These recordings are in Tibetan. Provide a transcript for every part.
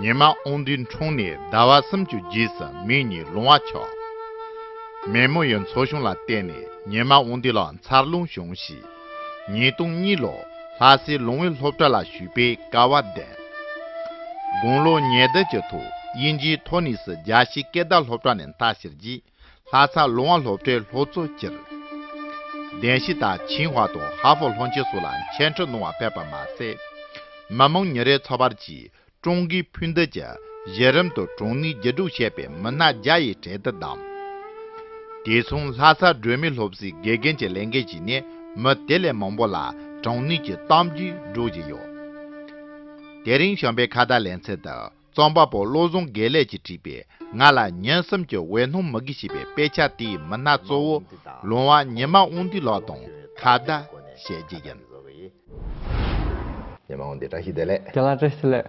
ཉི་མ་ཨོང་དུས་འཁྲུངས་ནས་ཟླ་བ་སུམ་ཅུ་རྗེས་སུ་མིང་གཉིས་ལུང་བ་ཆོག། མེ་མོ་ཡི་འཚོ་གཞུང་ལ་བརྟེན་ནས་ཉི་མ་ཨོང་དུས་ལ་མཚར་ལུང་བྱུང་ཞིང། ཉིས་སྟོང་གཉིས་ལོར་ལྷ་སའི་ལུང་བའི་སློབ་གྲྭ་ལ་ཞུགས་པའི་སྐལ་བ་ལྡན། དགུང་ལོ་ཉེར་བདུན་གྱི་ཐོག་དབྱིན་ཇིའི་ཐོ་ནིས་རྒྱ་ཤེལ་སྐད་བརྡ་སློབ་གྲྭ་ནས་མཐའ་བཞིར་བགྱིས། ལྷ་སར་ལུང་བ་སློབ་གྲྭའི་ལྷོ་གཙོ་སྤྱིར་བདེན་བཞི་དང་ཆིན་ཧྭ་དང་ཧྭ་ཧྥོ་ལྷོ་མཆེད་སོགས་ལ་མཆན་འཕྲིན་གནང་བ་ཕེབས་པ་མ་ཟད། མི་མང་ཉིན་རེའི་འཚོ་བར་གྱིས་ཀྲུང་གོའི་ཕུ་འདེད་ཀྱི་གཞི་རིམ་དུ་གྲོང་མིའི་རྒྱུ་དྲུག་བཤད་པའི་མི་སྣ་བརྒྱ་ཡི་གྲལ་དུ་བདམས། དེ་མཚུངས་ལྷ་སར་སྒྲོལ་མའི་སློབ་གསོའི་དགེ་རྒན་གྱི་ལས་འགན་བཞེས་ནས་མི་དེ་ལས་མང་པོ་ལ་དྲང་ནུས་ཀྱི་གཏམ་རྒྱུད་སྒྲོག་བཞིན་ཡོད། དེ་རིང་གཞོན་པའི་ཁ་བརྡ་ལེན་ཚད་དུ། རྩོམ་པ་པོ་བློ་བཟང་དགེ་ལེགས་ཀྱིས་བྲིས་པའི་ང་ལ་ཉན་གསུམ་གྱི་འོད་སྣང་མི་དགེ་ཞེས་པའི་དཔེ་ཆ་དེའི་མི་སྣ་གཙོ་བོ་ལུང་བ་ཉི་མ་དབང་འདུས་ལགས་དང་ཁ་བརྡ་བྱས་རྗེས་ཡིན། ཉི་མ་དབང་འདུས་བཀྲ་ཤིས་བདེ་ལེགས། རྒྱ་ལག་བཀྲ་ཤིས་ལེགས།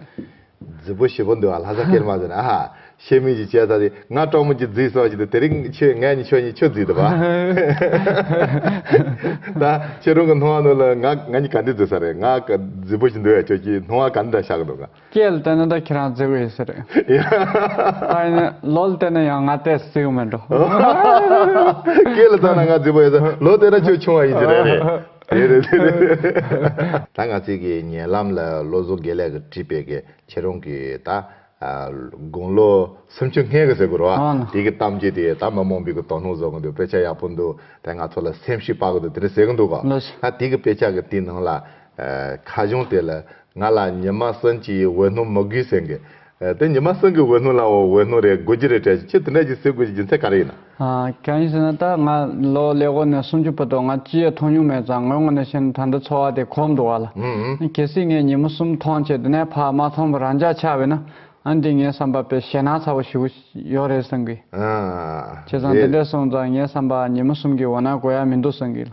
རྫི་བོ་བཞི་པོ་འདུག་ཨ་ལྷ་ས་སྐྱེར་མ་ཟེར་ན་ཨ་ཧ། ཤེས་མིན་གྱི་བྱས་ཚར་ཏེ་ང་གྲོགས་མོ་གྱི་རྫིས་སོགས་ཀྱི་འདུག་དེ་རིང་ཁྱོད་ངེད་གཉིས་ཁྱོད་གཉིས་ཁྱོད་རྫིས་འདུག་བ། ད་ཁྱོད་རང་གི་སྣང་བ་ནོར་ལ་ང་ང་གཉིས་ག་འདི་རྫིས་ས་རེད་ང་ག་རྫི་བོ་བཞི་འདུག་ཨེ་ཁྱོད་ཀྱིས་སྣང་བ་ག་འདི་འདྲ་ཤར་གི་འདུག་ག། སྐྱེས་བལྟས་ན་ད་ཁྱེད་རང་བརྫི་གི་ཡོད་ས་རེད། ད་ཡིན་ནའི་ལོ་བལྟས་ན་ཡང་ང་ལྟས་བརྫི་གི་མི་འགྲོ། སྐྱེས་ལ་བལྟས་ན་ང་བརྫི་བ་ཡོད་ས་རེད་ལོ་བལྟས་ན་ཁྱོད་ཆུང་བ་ཡིན་ས་རེད། དེ་རེད་དེ་རེད། ད་ང་ཚིག་གི་ཉེ་ལམ་ལ་བློ་བཟོ་དགེ་ལེགས་ཀྱི་བྲིས་པའི་གི་ཁྱེད་རང་གི་ད། དགུང་ལོ་སུམ་ཅུ་ལྔའི་གི་ཟེར་དགོས་རོ། དེ་གི་གཏམ་རྒྱུད་དེ་ད་མི་མང་པོས་གི་དོ་སྣང་བཟོ་གི་འདུག་དཔེ་ཆ་ཡག་པོ་འདུག་ད་ང་ཚོ་ལ་སེམས་ཤུགས་སྤར་གི་འདུག་དེ་འདྲ་ཟེར་གི་འདུག་གོ། ད་དེ་གི་དཔེ་ཆ་གི་དེའི་ནང་ལ། ཁ་གཞུང་དེ་ལ་ང་ལ་ཉི་མ་གསུམ་གྱི་འོད་སྣང་མི་དགོས་ཟེར་གི། དེ་ཉི་མ་གསུམ་གྱི་འོད་སྣང་ལའོ་འོད་སྣང་རེ་དགོས་ཀྱི་རེད་དྲན་ཞིང་ཁྱེད་དེ་འདྲ་ཞིག་ཟེར་དགོས་ཀྱི་རྒྱུ་མཚན་ག་རེ་ཡིན་ན། གང་ཡིན་ཟེར་ན་ད་ང་ལོ་ལེགས་བོ་ནས་སུམ་ཅུ་བུད་དོགས་ང་ཅི་ཡད་མཐོང་མྱོང་མེད་ཙང་ངོས་ངོ་ནས་བཤད་ན་ད་འདི་འཚོ་བ་དེ་གོམས་འགྲོ་བ་ལ་གལ་སྲིད་ངས་ཉི་མ་གསུམ་མཐོང་ཆེད་དེ་ནས་ཕར་མ་མཐོང་བར་རང་འཇགས་ཆགས་བས་ན་ཨང་འདི་ངའི་བསམ་པ་པས་ཞེད་སྣང་ཚ་བོ་ཞིག་གོ་ཡོད་རེད་བསམ་གི། བྱས་ཙང་དེ་འདྲས་སོང་ཙང་ངའི་བསམ་པའང་ཉི་མ་གསུམ་གྱི་འོད་སྣང་གོ་ཡ་མི་འདུག་བསམ་གི།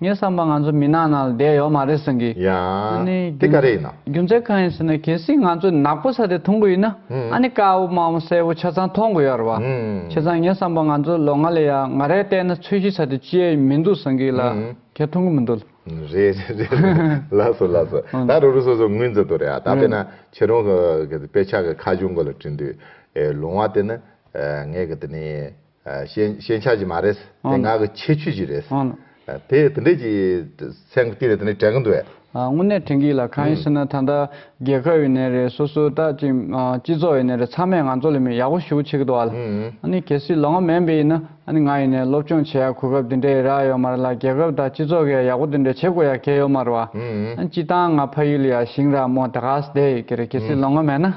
ངས་བསམ་པར་ང་ཚོ་མི་ནག་ནང་ལ་བསྡད་ཡོད་མ་རེད་ཟེར་གི། ཡང། ཨ་ནི། དེ་ག་རེ་ཡིན་ན། རྒྱུ་མཚན་གང་ཡིན་ཟེར་ན་གལ་སྲིད་ང་ཚོས་ནག་པོ་ས་དེ་མཐོང་གི་ཡིན་ན་ཨ་ནི་དཀར་བོ་དམར་བོ་སེར་བོ་ཆ་ཚང་མཐོང་གི་ཡོད་རེད་བ། བྱས་ཙང་ངས་བསམ་པར་ང་ཚོས་ལོ་ལྔ་ལས་ཡ་ང་རེ་བལྟས་ན་ཚོས་གཞི་ས་དེ་སྤྱི་ཡས་མི་འདུག་ཟེར་གི་ལ་ཁྱེད་མཐོང་གི་མི་འདུག་ལ། རེད་རེད་རེད་རེད་ལགས་སོ་ལགས་སོ་ད་རོ་རུ་སོ་སོ་ངོས་འཛིན་ཏོ་རེད་ཨ་ད་པེ་ན་ཁྱེད་རང་གི་དཔེ་ཆ་གི་ཁ་གཞུང་གི་ལ་བྲིས་འདུག་ཨེ་ལོང་བ་དེ་ནི་ངས་གི་དེ་ནི། ཤེས་བྱ་ཅིག་མ་རེད། དེ་ངག་གི་ཁྱད་ཆོས་ཅིག་རེད། དེ་དེ་འདྲས་ཀྱི་ཚན་གྱི་སྟེང་ནས་དེ་འདྲས་དྲན་གྱི་འདུག་བས། དངོས་གནས་དྲན་གྱི་ལ་གང་ཡིན་ཟེར་ན་ད་ལྟ་རྒྱལ་ཁབ་ཡིན་ནས་རེད་སོ་སོའི་ལྟ་ཅིག་སྤྱི་ཚོགས་ཡིན་ནས་རེད་ཚང་མས་ང་ཚོ་ལ་མི་ཡག་པོ་ཞུ་ཆེད་ཀྱི་འདུག་བ་ལ་ཨ་ནི་གལ་སྲིད་ལོ་ངོ་མན་པའི་ཡིན་ན་ཨ་ནི་ང་ཡིན་ནས་སློབ་སྤྱོང་བྱེད་ཡག་གོ་སྐབས་དེ་འདྲས་ཡི་རག་ཡོད་མ་རེད་ལ་རྒྱལ་ཁབ་དང་སྤྱི་ཚོགས་ཀྱི་ཡག་ཡག་པོ་དེ་འདྲས་བྱེད་དགོས་ཡག་གལ་ཡོད་མ་རེད་བ། ཨ་ནི་སྤྱི་བཏང་ང་ཕ་ཡུལ་ཡ་ཞིང་ར་མོ་དེ་ག་ས་དེ་ཡི་གེ་རེད་གལ་སྲིད་ལོ་ངོ་མན་ན།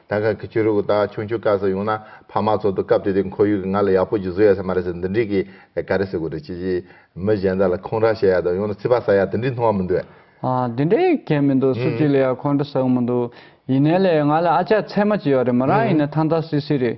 ད་ག་གི་ཆོས་རིག་གི་དག་ཆུང་ཆུང་སྐབས་སུ་ཡོང་ན་ཕ་མ་ཚོ་དུ་སྐབས་དེ་དུས་ཁོར་ཡུག་གི་ང་ལ་ཡག་པོ་ཞིག་བཟོ་ཡ་ས་མ་རེད་ཟེར་འདི་འདྲིས་གི་ག་རེ་ཟེར་དགོས་རེད་ཅི་ཅི། མི་གཞན་དག་ལ་ཁོང་ར་བྱེད་ཡ་དང་ཡོང་ན་ཚིག་པ་ཟ་ཡ་དེ་འདྲིས་མཐོང་བ་མི་འདུག། དེ་འདྲའི་གལ་མི་འདུག་སུ་གཅིག་ལ་ཡང་ཁོང་ར་ཟེར་བ་མི་འདུག་ཡིན་ནའི་ལེ་ང་ལ་ཨ་ཅག་ཚད་མ་ཅིག་ཡོད་རེད་མོ་རང་ཡིན་ན་ཐང་ཐང་སིལ་སིལ་རེད།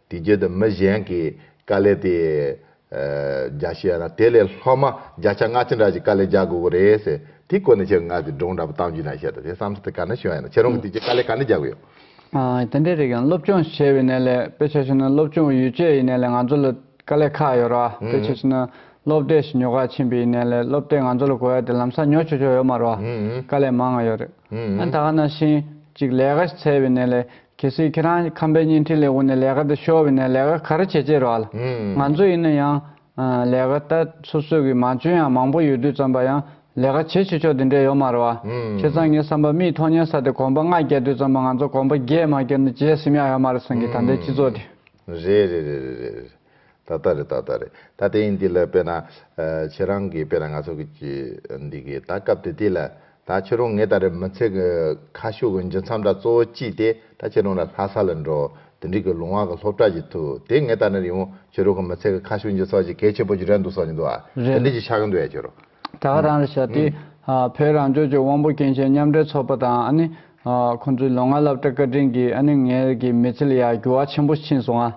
དེ་བརྒྱུད་དུ་མི་གཞན་གྱི་དཀའ་ལས་དེ་རྒྱག་ཤེས་ཡ་ན་དེ་ལས་ལྷག་མ་བརྒྱ་ཆ་ལྔ་ཅི་འདྲ་ཞིག་དཀའ་ལས་རྒྱག་དགོས་ཀྱི་རེད་ཟེར་དེའི་སྐོར་ནས་ཁྱེད་ངག་གི་སྒྲུང་འདྲ་པོ་གཏམ་རྒྱུད་ནང་བཤད་འདུག་དེ་བསམ་ཚུལ་དེ་ག་འདྲ་བྱུང་ཡ་ན་ཁྱེད་རང་གིས་དེ་རྗེས་དཀའ་ལས་ག་འདྲ་རྒྱག་གི་ཡོད། དེ་འདྲའི་རིགས་ཡང་སློབ་སྦྱོང་བྱས་པའི་གནས་ལས་དཔེ་ཆ་ཞིག་ནི་སློབ་སྦྱོང་ཡུལ་སྐྱེས་ཡི་གནས་ལས་ང་ཚོ་ལ་དཀའ་ལས་ཁག་ཡོད་རོ། དཔེ་ཆ་ཞིག་ནི་སློབ་གྲྭའི་ཞིབ་ཉོ་ཁག་ཕྱིན་པའི་ཡི་གནས་ལས་སློབ་གྲྭས་ང་ཚོ་ལ་གོ་ཡ་དེ་ལམ་སང་ཉོ་ཆོག་ཆོག་ཡོད་མ་རོ། དཀའ་ལས་མང་ང་ཡོད་རེད། ད་ག་ན་ཤིང་གཅིག་ལས་ག་ཞིག་འཚལ་བའི་གནས་ལས་གལ་སྲིད་ཁྱེད་རང་ཁམས་པའི་བརྙན་འཕྲིན་ལས་དབུ་ནས་ལས་ཀ་འདི་ཤོར་བས་ན་ལས་ཀ་ག་རེ་བྱེད་ཅེས་རོགས་ལ། ང་ཚོ་ཡིན་ན་ཡང། ལས་ཀ་ལྟ་སོ་སོས་གི་མང་བྱོན་ཡང་མང་པོ་ཡོད་དུས་བརྩམས་པ་ཡང་ལས་ཀ་བྱེད་བྱེད་ཆོག་དེ་འདྲས་ཡོད་མ་རེད་བ། ཁྱེད་ཚང་ངའི་བསམ་པ་མིའི་མཐོང་སྙན་ས་དེ་གོམ་པ་ལྔ་བརྒྱད་དུས་བརྩམས་པ་ང་ཚོ་གོམ་པ་བརྒྱད་མ་བསྐྱོད་ན་བརྗེད་སེམས་ཡང་ཡོད་མ་རེད་བསམ་གི་ད་ལྟའི་སྤྱི་ཚོགས་དེ། རེད་རེད་རེད་རེད་རེད་རེད། ད་ལྟ་རེད་ད་ལྟ་རེད་ད་ལྟ་ཡིན་འདི་ལ་དཔེར་ན། ཁྱེད་རང་གིས་དཔེར་ན་ང་ཚོ་གིས་འདི་གི་ད་སྐབས་དེ་དུས་ལ། ད་ཁྱེད་རང་ངེད་ད་རེ་མི་ཚེ་གི་ཁ་ཤུགས་གི་འབྱུང་མཚམས་དག་གཙོ་བོ་ཅི་སྟེ་ད་ཁྱེད་རང་ལ་ལྷ་ས་ལ་འགྲོ། དེ་འགྲིག་གི་ལུང་བ་གི་སློབ་གྲྭ་གྱི་ཐུག་དེ་ངེད་ད་ནི་རིང་བོ་ཁྱེད་རང་གི་མི་ཚེ་གི་ཁ་ཤུགས་འབྱུང་ས་ཅིག་གལ་ཆེན་པོ་ཅིག་རེད་འདུག་བསམ་གྱི་འདུག་ཨ། དེ་འགྲིག་ཅིག་ཆགས་ཀྱི་འདུག་ཡ་ཁྱེད་རང། དག་རང་རེད་བྱ་དེ། བོད་རང་ལྗོངས་ཀྱི་དབང་པོ་སྐྱེ་མཆེད་མཉམ་འབྲེལ་ཚོགས་པ་དང་ཨ་ནི། ཁོ་ཚོའི་ལོ་ལྔ་བསླབ་གྲྭ་བཀའ་དྲིན་གྱིས་ཨ་ནི་ངའི་གི་མི་ཚེ་ལ་ཡང་འགྱུར་བ་ཆེན་པོ་ཕྱིན་སོང་ཨ།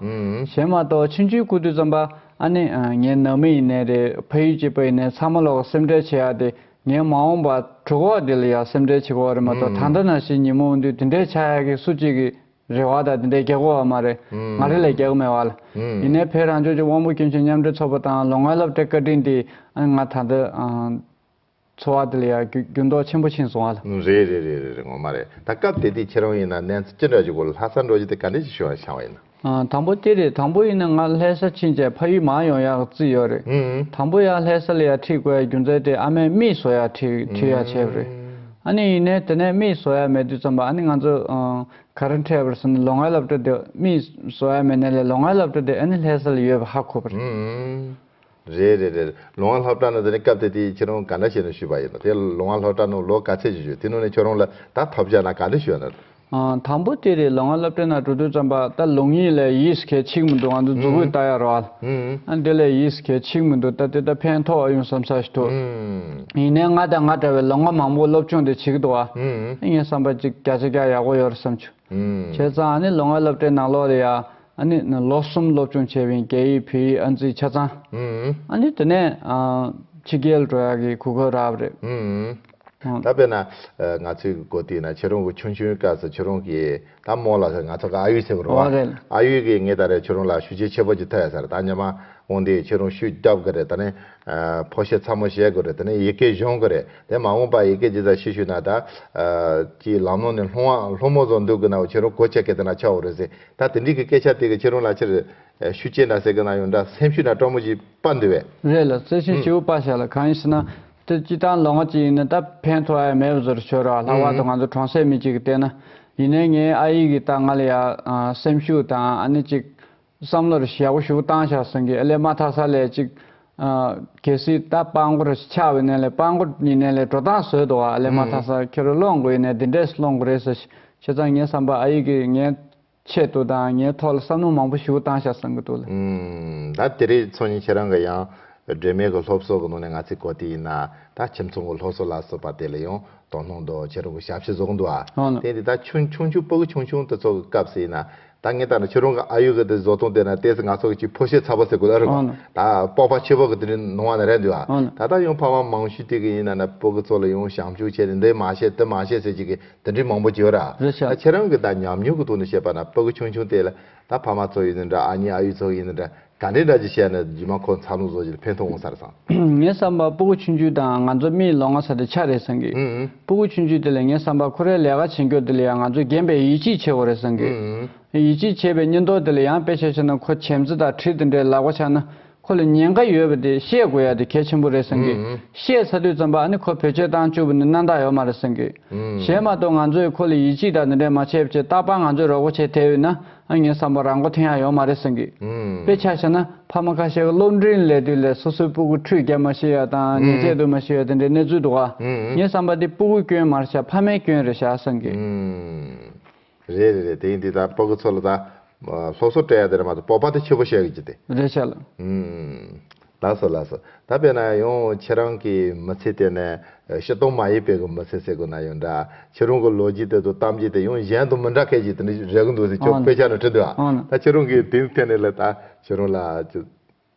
གཞན་མ་གཏོགས་ཕྱི་འཇུའི་སྐུ་དུས་ཙམ་པ་ཨ་ནི། ངའི་ནང་མི་ཡིན་ནའི་རེད་ཕ་ཡུལ་གྱི་བུ་ཡིན་ནའི་ཚང་མ་ལོག་གི་སེམས་ཁྲལ་བྱེད་ཡ་དེ་ངའི་མ་འོངས་པ་གྲུ་གོག་དེ་ལ་ཡང་སེམས་ཁྲལ་བྱེད་དགོས་བ་རེད་མ་གཏོགས་ད་འདྲ་ན་ཞིག་ཉིན་མོ་འོན་དུས་དེ་འདྲས་བྱ་ཡ་གི་སུ་གཅིག་གིས་རེ་བ་དང་དེ་འདྲའི་གེགས་བོ་བ་མ་རེད། ང་རེ་ལས་གེགས་མེད་བ་ལ། ཡིན་ནའི་ཕའི་རང་ལྗོངས་ཀྱི་དབང་པོ་སྐྱོན་ཅན་མཉམ་འབྲེལ་ཚོགས་པ་དང་ལོ་ལྔའི་སློབ་གྲྭའི་བཀའ་དྲིན་དེས་ཨ་ང་ད་ལྟ་འཚོ་བ་དེ་ལ་ཡང་འགྱུར་ལྡོག་ཆེན་པོ་ཕྱིན་སོང་བ་ལ། རེད་རེད་རེད་རེད་རེད་ངོ་མ་རེད་ད་སྐབས་དེ་དུས་ཁྱེད་རང་ཡིན་ན་གནས་ཚུལ་ཅི་འདྲ་ཞིག་གོ་ལ་ལྷ་སར་འགྲོ་རྒྱུ་དེ་ག་འདྲ་ཞིག་བྱུང་བ་ཤང་བ་ཡིན་ན། དང་པོ་དེ་རེད་དང་པོ་ཡིན་ན་ང་ལྷས་ས་ཕྱིན་རྗེས་ཕ་ཡུལ་མང་ཡོང་ཡག་བརྩིས་ཡོད་རེད་དང་པོ་ཡང་ལྷས་ས་ལ་ཡང་ཁྲིད་དགོས་ཡ་རྒྱུ་མཚན་དེ་ཨ་མས་མིས་བཟོ་ཡག་ཁྲིད་ཡག་བྱས་པ་རེད། ཨ་ནི་ཡིན་ནས་དེ་ནས་རྨིས་བཟོ་ཡ་མེད་དུས་འཚམས་པ་ཨ་ནི་ང་ཚོ་ག་རེ་འཕྲད་པར་སོང་ནས་ལོ་ལྔའི་སློབ་གྲྭ་དེ་རྨིས་བཟོ་ཡ་མེད་ནས་ལས་ལོ་ལྔའི་སློབ་གྲྭ་དེ་ཨ་ནི་ལྷས་ས་ལ་ཡོད་པ་ཧ་གོ་བ་རེད། རེད་རེད་རེད་ལོ་ལྔ་སློབ་གྲྭ་ནོ་དེ་ནི་སྐབས་དེ་དུས་ཁྱེད་རང་ག་འདྲ་བྱས་ནས་ཞུས་པ་ཡིན་ནོ་དེ་ལོ་ལྔ་སློབ་གྲྭ་ནོ་ལོ་ག་ཚད་ཅིག་ཞུས་དེ་ནོ་ནས་ཁྱོད་རང་ལ་ད་ཐོབ་བྱ་ན་ག་འདྲ་ཞུས་ཡོད་ནོ། དང་པོ་དེ་རེད་ལོ་ང་སློབ་གྲྭའི་ནང་འགྲོ་དུས་བརྩམས་པ་ད་ལུང་ཡིན་ལས་ཡིས་གལ་ཆིག་མི་འདུག་ང་ཚོ་རྫུ་བོས་ལྟ་ཡ་རོགས་ཨ་འདི་ལས་ཡིས་གལ་ཆིག་མི་འདུག་ད་དེ་ད་ཕན་ཐོག་ཨ་ཡུང་བསམ་ས་ཞིག་ཐུག་ཡིན་ནའི་ང་དང་ང་འདྲ་བའི་ལོ་ང་མང་པོ་སློབ་ཆུང་དུ་བྱིས་ཀྱི་འདུག་ཨ་ངས་བསམ་པ་ཅིག་བརྒྱ་ཆ་བརྒྱ་ཡག་པོ་ཡོད་རེད་བསམ་ཆུ་བྱས་ཙང་ཨ་ནི་ལོ་ང་སློབ་གྲྭའི་ནང་ལོ་རེ་ཡ་ཨ་ནི་ལོ་གསུམ་སློབ་ཆུང་བྱས་བའི་རྒྱ་ཡིག་བོད་ཡིག་ཨ་འཛིན་ཆ་ཚང་ཨ་ནི་དེ་ནས་ཕྱི་རྒྱལ་འགྲོ་ཡག་གི་གུ་གུལ་རབ་རེད། ད་དཔེར་ན། ང་ཚོའི་མགོ་སྟེང་ན་ཁྱེད་རང་བུ་ཆུང་ཆུང་སྐབས་སུ་ཁྱེད་རང་གིས་ད་རྨོ་ལགས་ང་ཚོ་ག་ཨ་ཡུས་ཟེར་གི་རོ། ཨ་ཡུས་ཀྱིས་ངས་ད་རེས་ཁྱེད་རང་ལ་ཤུ་ཆེ་ཆེ་པོ་ཅིག་ཐོས་ཡ་ས་རེད་ད་ཉི་མ་འོང་དུས་ཁྱེད་རང་ཤུ་རྒྱབ་གི་རེད་ད་ནི། ཕོ་ཤེ་ཚ་མོ་ཤེས་གི་རེད་ད་ནི་ཡི་གེ་གཞོན་གི་རེད་དེ་མ་འོངས་པ་ཡི་གེ་ཇི་ཙམ་ཤེས་ཤུ་ན་ད། ཀྱི་ལམ་ལོང་ནས་ལྷུང་བ་ལྷུང་མོ་བཟོ་འདུག་གི་ན་བུ་ཁྱེད་རང་གོ་ཆ་གས་ད་ན་ཆ་བོ་རེད་ཟེར་ད་དེ་འདྲིས་ཀྱི་སྐད་ཆ་དེ་གི་ཁྱེད་རང་ལ་ཕྱིར། ཤུ་ཆེ་འདྲ་ཟེར་གི་ན་ཡོང་འདྲ་སེམས་ཤུ་ན་སྤྲོ་མོ་ཅིག་སྤ་འདུག་བས། རེད་ལ་བརྩེ་ཆེན་སྐྱེ་བོ་དཔའ་ཞལ་ལ་གང་ཡིན་ཟེར་ན། དེ་སྤྱི་དང་ལོ་ངོ་གཅིག་ཡིན་ན་ད་ཕན་ཐོགས་ཨེ་མེད་པ་བཟོ་རུ་ཆོད་ར་ལྷག་པར་དུ་ང་ཚོ་གྲོང་སའི་མི་གཅིག་གི་ལྟས་ན། ཡིན་ནའི་ངའི་ཨ་ཡིག་གིས་ད་ང་ལ་ཡང་སེམས་ཤུགས་དང་ཨ་ནེ་གཅིག། བསམ་བློ་རེ་ཞེ་བོ་ཞུ་བཏང་བཞག་གསུང་གི་ཨེ་ལས་མ་ཐག་ས་ལས་གཅིག། གལ་སྲིད་ད་དཔང་མགོ་རེ་ཆགས་བའི་གནས་ལས་དཔང་མགོ་ཉིད་ནས་ལས་འགྲོ་སྟངས་བཟོས་འདུག་ཨ་ལས་མ་ཐག་ས་ཁྱེར་རུ་སློང་དགོས་ཡིན་ནའི་འདི་འདྲས་སུ་སློང་དགོས་རེད་ཟེར་ཞེས་ཙང་ངས་བསམ་པ་ཨ་ཡིག་གིས་ངའི་ཆེད་དུ་དང་ངའི་ཐོག་ལ་བསམ་བློ་མང་པོ་ཞུ་བཏང་བཞག་བསམ་གི་འདུག་ལ། ད་དེ་རིང་ཚོགས་གཉིས་ཁྱེད་རང་གི་ཡང་སྒྲོལ་མའི་གི་སློབ་གསོ་གི་ནང་ནས་ང་ཚོའི་གོ་དེ་ཡིན་ན་ད་ཁྱིམ་ཚང་གི་སློབ་གསོ་ལ་སོགས་པ་དེ་ལ་ཡང་དོ་སྣང་འདུག་ཁྱེད་རང་གི་ཞབས་ཕྱི་བཟོ་གི་འདུག་ཨ། དེ་ཡིན་དུས་ད་ཆུང་ཆུང་ཆུང་པོ་གི་ཆུང་ཆུང་དུ་ཚོགས་གི་སྐབས་སུ་ཡིན་ན་ད་ངས་ལྟར་ན་ཁྱེད་རང་གི་ཨ་ཡོད་གི་དེ་བཟོ་སྟངས་དེ་ན་ལྟས་ཚེ་ང་ཚོ་གི་ཕོ་ཤེ་ཚ་པོ་ཟེར་དགོས་ཨ་རེད་བ། ད་སྤོགས་པ་ཆེ་པོ་གི་དེ་རིང་ནང་བ་ན་རེད་འདུག་ཨ། ད་ལྟ་ཡང་ཕ་མ་མང་ཤོས་དེ་གི་ཡིན་ན་ན་པོ་གི་ཚོགས་ལ་ཡང་བྱམས་ཆུང་བྱས་ཏེ་འདི་མ་བྱེད་དེ་མ་བྱེད་ཟེར་གྱི་གི་དེ་འདྲའི་མང་པོ་བརྗོད་ར། རེད་བྱ། ད་ཁྱེད་རང་གི་ད་ཉམས་མྱོང་གི་ཐོག་ནས་བཤད་པ་ན་པོ་གི་ཆུང་ཆུང་དེ་ལ་ད་ཕ་མ་ཚོ་ཡིན་ནི་འདྲ་ཨ་མྱེ་ཨ་ཡུ་ཚོ་ཡིན་ནི་འདྲ་ག་འདྲའི་འདྲ་ཅིག་བཤད་ན་རྗེས་མ་ཁོ་འཚར་ལོངས་བཟོ་བྱེད་ལ་ཕན་ཐོག་འོང་ས་རེད་བསམ། ངས་བསམ་པ་པོ་གི་ཆུང་ཆུང་དང་ང་ཚོ་རྨིའི་ལོ་ང་ས་དེ་ཆ་རེད་བསམ་གི། པོ་གི་ཆུང་ཆུང་དེ་ལས་ངས་བསམ་པ་ཁོ་རའི་ལས་ཀ་བྱེད་མགྱོགས་དེ་ལས་ཡང་ང་ཚོ་རྒན་པའི་ཡིད་ཆེས་ཆེ་བོ་རེད་བསམ་གི། ཡིད་ཆེས་ཆེ་བའི་གཉེན་རྟོག་དེ་ལས་ཡང་དཔེ་ཆ་ཆགས་ན་ཁོ་བྱམས་བརྩེ་དང་ཁྲིད་དེ་འདྲའི་ལག་པ་ཆགས་ན། ཁོ་ལ་ཉེན་ཁ་ཡོད་པ་དེ་ཤེས་དགོས་ཡ་དེ་གལ་ཆེན་པོ་རེད་བསམ་གི། ཤེས་ཚ་དུས་བརྩམས་པ་ཨ་ནི་ཁོ་བོད་ཆས་བཏང་བཅུག་པ་ནི་གནའ་རྟགས་ཡོད་མ་རེད་བསམ་གི། གཞན་མ་གཏོགས་ང་ཚོས་ཁོ་ལ་ཡིད་ཆེས་དང་འདི་འདྲས་མ་བྱེད་པ་བྱས་རྟག་པར་ང་ཚོས་རོགས་པ་བྱས་ཐལ་ཡོད་ན་ཨ་ངའི་བསམ་པར་རང་མགོ་ཐེན་ཡག་ཡོད་མ་རེད་བསམ་གི། དཔེ་ཆ་བྱས་ན་ཕ་མ་ཁ་ཤས་ཀ་སློབ་འབྲིང་ལས་དུས་ལས་སོ་སོའི་སྤུ་གུ་ཁྲུས་བརྒྱབ་མ་ཤེས་ཡ་དང་ཉལ་ཆས་སྡོད་མ་ཤེས་ཡ་དེ་འདྲའི་གནས་ཚུལ་འདུག་ག་ངའི་བསམ་པར་དེ་སྤུ་གུའི་སྐྱོན་མར་བྱ་ཕ་མའི་སྐྱོན་རེད་བྱ་བསམ་གི། རེད་རེད་རེད་དེང་དེ་དང་པོ་གི་ཚོ་ལ་དང། སློབ་གསོ་སྤྲད་ཡ་དེ་རེད་མ་ཏོག་སྤོབས་པ་དེ་ཆེ་པོ་བཤད་གི་ཅི་དེ། རེད་ཤ་ལ། ལགས་སོ་ལགས་སོ་ད་པེ་ན་ཡོང་ཁྱེད་རང་གི་མི་ཚེ་དེ་ནས་ཤི་སྟོང་མ་ཡི་པེ་གི་མི་ཚེ་ཟེར་གི་ན་ཡོང་འདྲ་ཁྱེད་རང་གི་ལོ་རྒྱུས་དེ་དང་གཏམ་རྒྱུད་དེ་ཡང་གཞན་དང་མི་འདྲ་སྐད་ཅིག་དེ་ནས་རེག་གི་འདུག་ཟེར་ཁྱོད་དཔེ་ཆ་ནང་བྲིས་འདུག་ཨ་ད་ཁྱེད་རང་གི་དེང་ཐད་ནས་ལ་ད་ཁྱེད་རང་ལ།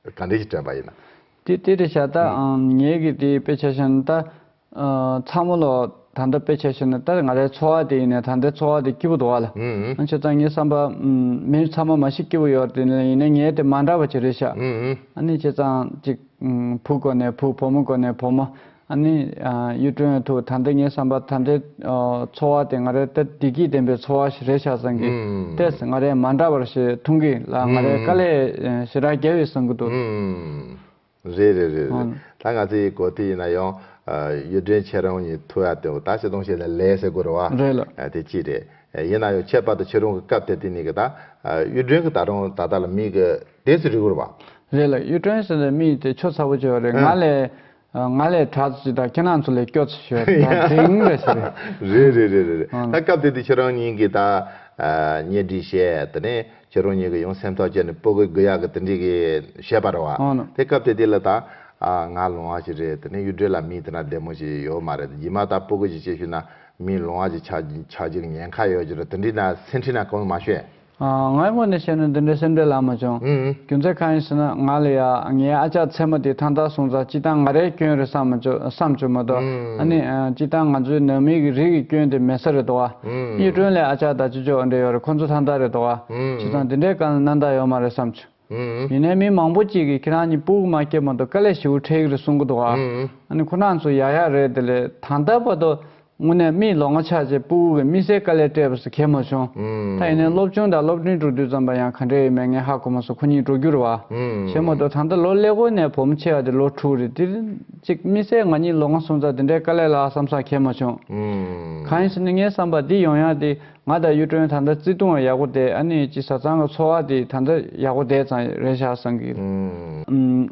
གང་དྲན་གྱིས་དྲན་པ་ཡིན་ན། དེ་དེ་འདྲ་བྱ་ད་ཨང་ངེད་ཀྱིས་དེ་དཔེ་ཆ་ཤོད་ན་ད། ཚ་མོ་ལོ་ད་ལྟ་དཔེ་ཆ་ཤོད་ན་ད་ང་རའི་འཚོ་བ་དེ་ཡིན་ན་ད་ལྟའི་འཚོ་བ་དེ་སྐྱིད་པོ་འདུག་ལ། ཨང་ཁྱོད་ཚང་ངའི་བསམ་པ། མིའི་ཚ་མོ་མ་ཞིག་སྐྱིད་པོ་ཡོད་དེ་ལ་ཡིན་ན་ངའི་དེ་མ་འདྲ་བ་ཅི་རེད་ཤག། ཨ་ནི་ཁྱེད་ཚང་ཅིག། བུ་དགོ་ནས་བུ་བུ་མོ་དགོ་ནས་བུ་མོ། ཨ་ནི། གཡུ་སྒྲོན་ཨ་ཐུག་ད་འདི་ངའི་བསམ་པར་ད་འདི། འཚོ་བ་དེ་ང་རའི་ལྟ་བདེ་སྐྱིད་ལྡན་པའི་འཚོ་བ་ཞིག་རེད་ཤག་བཟང་གི་ལྟས་ང་རའི་མ་འདྲ་བར་ཞེས་ཐུང་གི་ལ་ང་རའི་དཀའ་ལས་ཞེ་དྲག་རྒྱལ་བའི་བཟང་གི་འདུག། རེད་རེད་རེད་རེད་ད་ང་ཚོའི་གོ་ཐོས་ཡིན་ན་ཡང། གཡུ་སྒྲོན་ཁྱེད་རང་གཉིས་ཐུག་ཡ་དེ་འོ་ད་བྱེད་དོང་བྱེད་ལ་ལས་ཟེར་དགོས་རོ་བ། རེད་ལགས། དེ་གཅིག་རེད། ཡིན་ན་ཡང་ཁྱད་པར་དུ་ཁྱེད་རང་གི་སྐབས་དེ་དུས་ནས་གི་ད། གཡུ་སྒྲོན་གི་ད་རང་ད་ལྟ་ལ་མིག་གི་དེ་ཚོ་རིག་གོ་རོ་བ། རེད་ལགས་གཡུ་སྒྲོན་ཟེར་བའི་མིག་དེ་ཆོ་ཚ་བོ་བྱེད་བ་རེད་ང་ལས། ང་ལས་གྲགས་ཚོ་ཅིག་དང་ཁྱེད་རང་ཚོ་ལས་སྐྱོ་ཚོ་ཞིག་རེད་ད་དེང་རེད་ཞིག་རེད། རེད་རེད་རེད་རེད་རེད་ད་སྐབས་དེ་དུས་ཁྱེད་རང་གཉིས་ཀྱིས་ད་ཉེ་སྒྲིག་བྱས་དེ་ནས་ཁྱེད་རང་གཉིས་ཀྱིས་ཡང་སེམས་ཐག་བཅད་ནས་སྤོ་གི་གུ་ཡག་གི་དེ་འདྲིས་གི་བྱས་པ་རེད་བ། དེ་སྐབས་དེ་དུས་ལ་ད་ང་ལོང་བ་ཞིག་རེད་དེ་ནས་གཡུ་སྒྲོལ་ལ་མི་དེ་ན་བདེ་མོ་ཞིག་ཡོད་མ་རེད་དེ་རྗེས་མ་ད་སྤོ་གུ་ཞིག་བྱས་ཤུལ་ན་མི་ལོང་བ་ཞིག་ཆགས་ཆགས་རྒྱུ་གི་ཉེན་ཁ་ཡོད་ཅིག་རེད་དེ་འདྲིས་ན་སེམས་ཁྲིད་ན་གང་ཡང་མ་ཤོད། ང་ཡི་ངོ་ནས་བཤད་ན་འདི་འདྲའི་སེམས་ཁྲལ་ལ་མ་བྱུང། རྒྱུ་མཚན་གང་ཡིན་ཟེར་ན་ང་ལ་ཡ་ངའི་ཨ་ཅག་མཚན་མོ་དེ་ཐང་ཐང་སོང་ཙང་སྤྱི་བཏང་ང་རའི་སྐྱོན་རེད་བསམ་མ་བྱུང་བསམ་བྱུང་མ་གཏོགས་ཨ་ནི། སྤྱི་བཏང་ང་ཚོའི་ནང་མི་གི་རིགས་ཀྱི་སྐྱོན་དེ་མེད་ས་རེད་དོ། གཉིས་སྒྲོན་ལས་ཨ་ཅག་དང་སྤྱི་ཆོག་འབྲེལ་ཡོད་རེད་ཁོང་ཚོ་ཐང་ཐང་རེད་དོ། བྱས་ཙང་འདི་འདྲའི་གང་ལ་གནང་ད་ཡོད་མ་རེད་བསམ་བྱུང། ཡིན་ནའི་མི་མང་པོ་གཅིག་གིས་ཁྱེད་རང་གཉིས་པུའུ་མ་སྐྱེལ་མ་འདུག་ཀ་ལས་ཞིའུ་ཁྲེག་རེད་གསུང་གི་འདུག་ཨ་ནི་ཁོ་རང་ཚོ་ཡག་ཡག་རེད་དེ་ལས་ད་ལྟ་བར་དུ་དངོས་གནས་མིའི་ལོ་ངོ་ཆགས་རྗེས་པུའུ་བའི་མི་སེར་ཀ་ལས་སྤྲད་པ་སུ་གལ་མ་བྱུང་ད་ཡིན་ནའི་སློབ་ཆུང་དང་སློབ་འབྲིང་འགྲོ་དུས་ཙམ་པ་ཡང་ག་འདྲས་ཡོད་མེད་ངས་ཧ་གོ་མ་སོང་ཁོ་གཉིས་འགྲོ་རྒྱུར་བ་ཞེ་མོ་འདུག་ད་ལྟ་ལོ་ཀླད་ཀོར་ནས་བུ་མོ་ཆེ་བ་དེ་ལོ་དྲུག་རེད་དེར་གཅིག་མི་སེར་ང་གཉིས་ལོ་ང་སོང་ཙང་དེ་འདྲའི་ཀ་ལས་ལ་བསམ་ས་གལ་མ་བྱུང་གང་ཡིན་ཟེར་ནས་ངའི་བསམ་པ་འདི་ཡོང་ཡག་འདི། ང་དང་གཡུ་སྒྲོན་ད་ལྟ་བརྩེ་དུང་བ་ཡག་པོ་བསྡད་ཨ་ནི་སྤྱི་བཟའ་ཚང་གི་འཚོ་བ་དེ་ད་ལྟ་ཡག་པོ་བསྡད་ཙང་རེད་བཞག་བསམ་གི་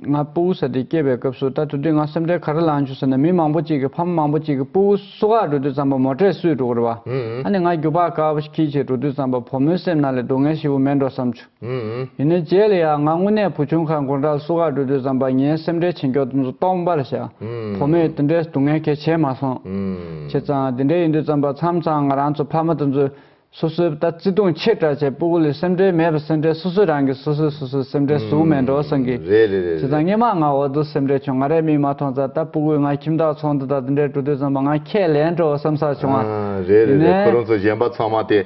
ང་སྤུ་བོ་ས་དེ་སྐྱེས་པའི་སྐབས་སུ་ད་དུ་དུས་ང་སེམས་ཁྲལ་ག་རེ་ལངས་བྱུང་ཟེར་ན་མི་མང་པོ་གཅིག་གི་ཕ་མ་མང་པོ་གཅིག་གི་སྤུ་བོ་སུ་ཁག་འགྲོ་དུས་ཙམ་པ་མོ་ཁྲལ་སུས་སྒྲུག་གི་རེད་བ་ཨ་ནི་ང་རྒྱུག་པ་དཀའ་བ་ཁྱི་ཁྱི་འགྲོ་དུས་ཙམ་པ་བུ་མོའི་སེམས་ནང་ལས་སྡུག་བསྔལ་ཞི་བོ་མེད་འགྲོ་བསམ་བྱུང། ཡིན་ནི་རྗེས་ལ་ཡང་ང་དངོས་གནས་བུ་ཆུང་ཁ་མགོ་འདྲ་སུ་ཁ་འགྲོ་དུས་བསམ་པ་ངའི་སེམས་ཁྲལ་ཆེ་མགྱོགས་འདི་ཚོ་སྟོང་པར་བྱ། བུ་མོས་དེ་འདྲའི་སྡུག་བསྔལ་གལ་ཆེ་མ་སོང། བྱས་ཙང་དེ་འདྲའི་ཡིན་དུས་བརྩམས་པ་མཚམས་མཚམས་ང་རང་ཚོ་ཕ་མ་དེ་ཚོས་སོ་སོའི་ལྟ་བརྩི་ཐུང་ཆེ་དྲག་བྱས་སྤུ་གུ་ལས་སེམས་ཁྲལ་མེད་པར་སེམས་ཁྲལ་སོ་སོས་རང་གི་སོ་སོས་སོ་སོའི་སེམས་ཁྲལ་ཟུག་མེད་འགྲོ་བསམ་གི། བྱས་ཙང་སྙན་མང་ང་འོག་ཏུ་སེམས་ཁྲལ་བྱུང་ང་རས་མིག་མ་མཐོང་ཙང་ད་སྤུ་གུས་ང་ཁྱིམ་བདག་ཚོང་འདི་དང་དེ་འདྲའི་འགྲོ་དུས་བརྩམས་པ་ང་ཁས་ལེན་འགྲོ་བསམ་ས་བྱུང་བ། ཡིན་ནི།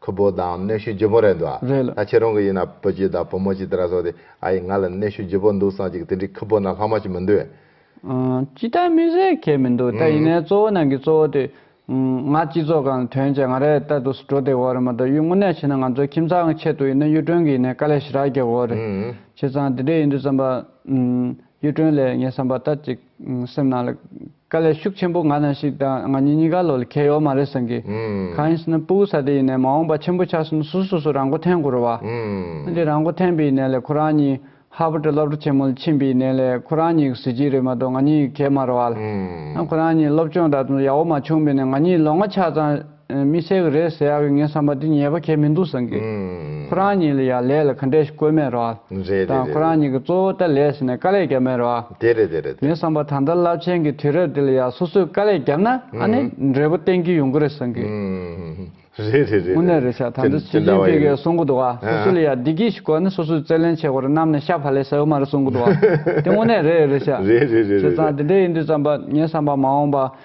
ཁུ་བོ་དང་གནོད་ཤུགས་ལྗིད་པོ་རེད་འདུག་རེད་ལ། ད་ཁྱེད་རང་གི་ཡིན་ན་བུ་གཅིག་དང་བུ་མོ་གཅིག་དེ་ར་སོགས་དེ་ཨ་ཡིས་ང་ལ་གནོད་ཤུགས་ལྗིད་པོ་འདུག་བསམ་གཅིག་དེ་འདྲའི་ཁུ་བོ་ན་ལྷག་མ་ཞིག་མི་འདུག། ཅི་ལྟར་མི་ཟེར་ཁྱད་མི་འདུག་ད་ཡིན་ནའི་གཙོ་བོ་ནང་གི་གཙོ་བོ་དེ། ང་སྤྱི་ཚོགས་ཁང་དོན་བྱས་ང་རེད་ལྟ་འདུག་འགྲོ་བདེ་བོ་རེད་མ་གཏོགས་གཡུ་དངུལ་ནས་བྱས་ན་ང་ཚོའི་ཁྱིམ་ཚང་གི་ཆེད་དུ་ཡིན་ན་གཡུ་སྒྲོན་གྱི་ཡིན་ནའི་དཀའ་ལས་ཞེ་དྲག་རྒྱག་དགོས་རེད། བྱས་ཙང་དེ་འདྲས་ཡིན་དུས་བསམ་པ། གཡུ་སྒྲོན་ལས་ངས་བསམ་པ་ལྟར་ཅིག་སེམས་ནང་ལ། དཀའ་ལས་ཤུགས་ཆེན་པོ་ང་ན་ཞིག་དང་ང་གཉིས་གཉིས་ཀ་ལོ་ལ་ཁྱད་ཡོད་མ་རེད་བསམ་གི། གང་ཡིན་ཟེར་ན་སྤུ་བོ་ས་དེ་ཡིན་ནའི་མ་འོངས་པ་ཆེན་པོ་ཆགས་ཟིན་ན་སུ་སོ་སོ་རང་མགོ་འཐེན་དགོས་རོ་བ། ཨ་ཅེ་རང་མགོ་འཐེན་པའི་ཡིན་ནའི་ལས་ཁོ་རང་གཉིས་ཧར་བར་དྲི་སློབ་གྲ་ཆེན་མོ་ལ་ཕྱིན་པའི་ཡིན་ནའི་ལས་ཁོ་རང་གཉིས་ཀྱི་གཟི་བརྗིད་རེད་མ་གཏོགས་ང་གཉིས་ཀྱི་གད་མ་རོ་བ་ལ། ཁོ་རང་གཉིས་སློབ་སྤྱོང་ད་དུང་ཡག་བོ་མ་བྱུང་བས་ནས་ང་གཉིས་ལོ་ལྔ་ཆགས་ཙང། མི་ཚེ་ག་རེ་ཟེར་ཡག་གི་ངའི་བསམ་པ་འདི་ཉེས་པ་ཁྱད་མི་འདུག་བསམ་གི། ཁོ་རང་གཉིས་ལ་ཡང་ལས་ལ་ག་འདྲས་ཤིག་བཀོལ་མེད་རོགས། དང་ཁོ་རང་གཉིས་ཀྱི་གཙོ་བོ་ལྟར་ལས་བྱས་ནས་དཀའ་ལས་རྒྱབ་མེད་རོགས། ངའི་བསམ་པ་ད་ལྟ་རླབས་ཆེན་གྱི་དུས་རབས་འདི་ལ་ཡང་སོ་སོས་དཀའ་ལས་བརྒྱབ་ན་ཨ་ནི་འབྲས་བུ་བསྟན་གྱི་ཡོང་གི་རེད་བསམ་གི། དངོས་གནས་རེད་ཆ་ད་ལྟ་ཞི་ཅིན་ཕིང་གིས་གསུང་གི་འདུག་བ་སོ་སོ་ལ་ཡང་བདེ་སྐྱིད་ཞིག་བཀོལ་ནས་སོ་སོའི་རྩལ་ལེན་བྱེད་དགོས་རེད་གནམ་ནས་ཤ་བྷ་ལས་ཟེར་བ་མ་རེད་གསུང་གི་འདུག་བ་དེ་དངོས་གནས་རེད་རེད་ཆ། བྱས་ཙང་དེ་འདྲས་ཡིན་དུས་བསམ་པ་ངའི་བསམ་པ་མ་འོངས་པ།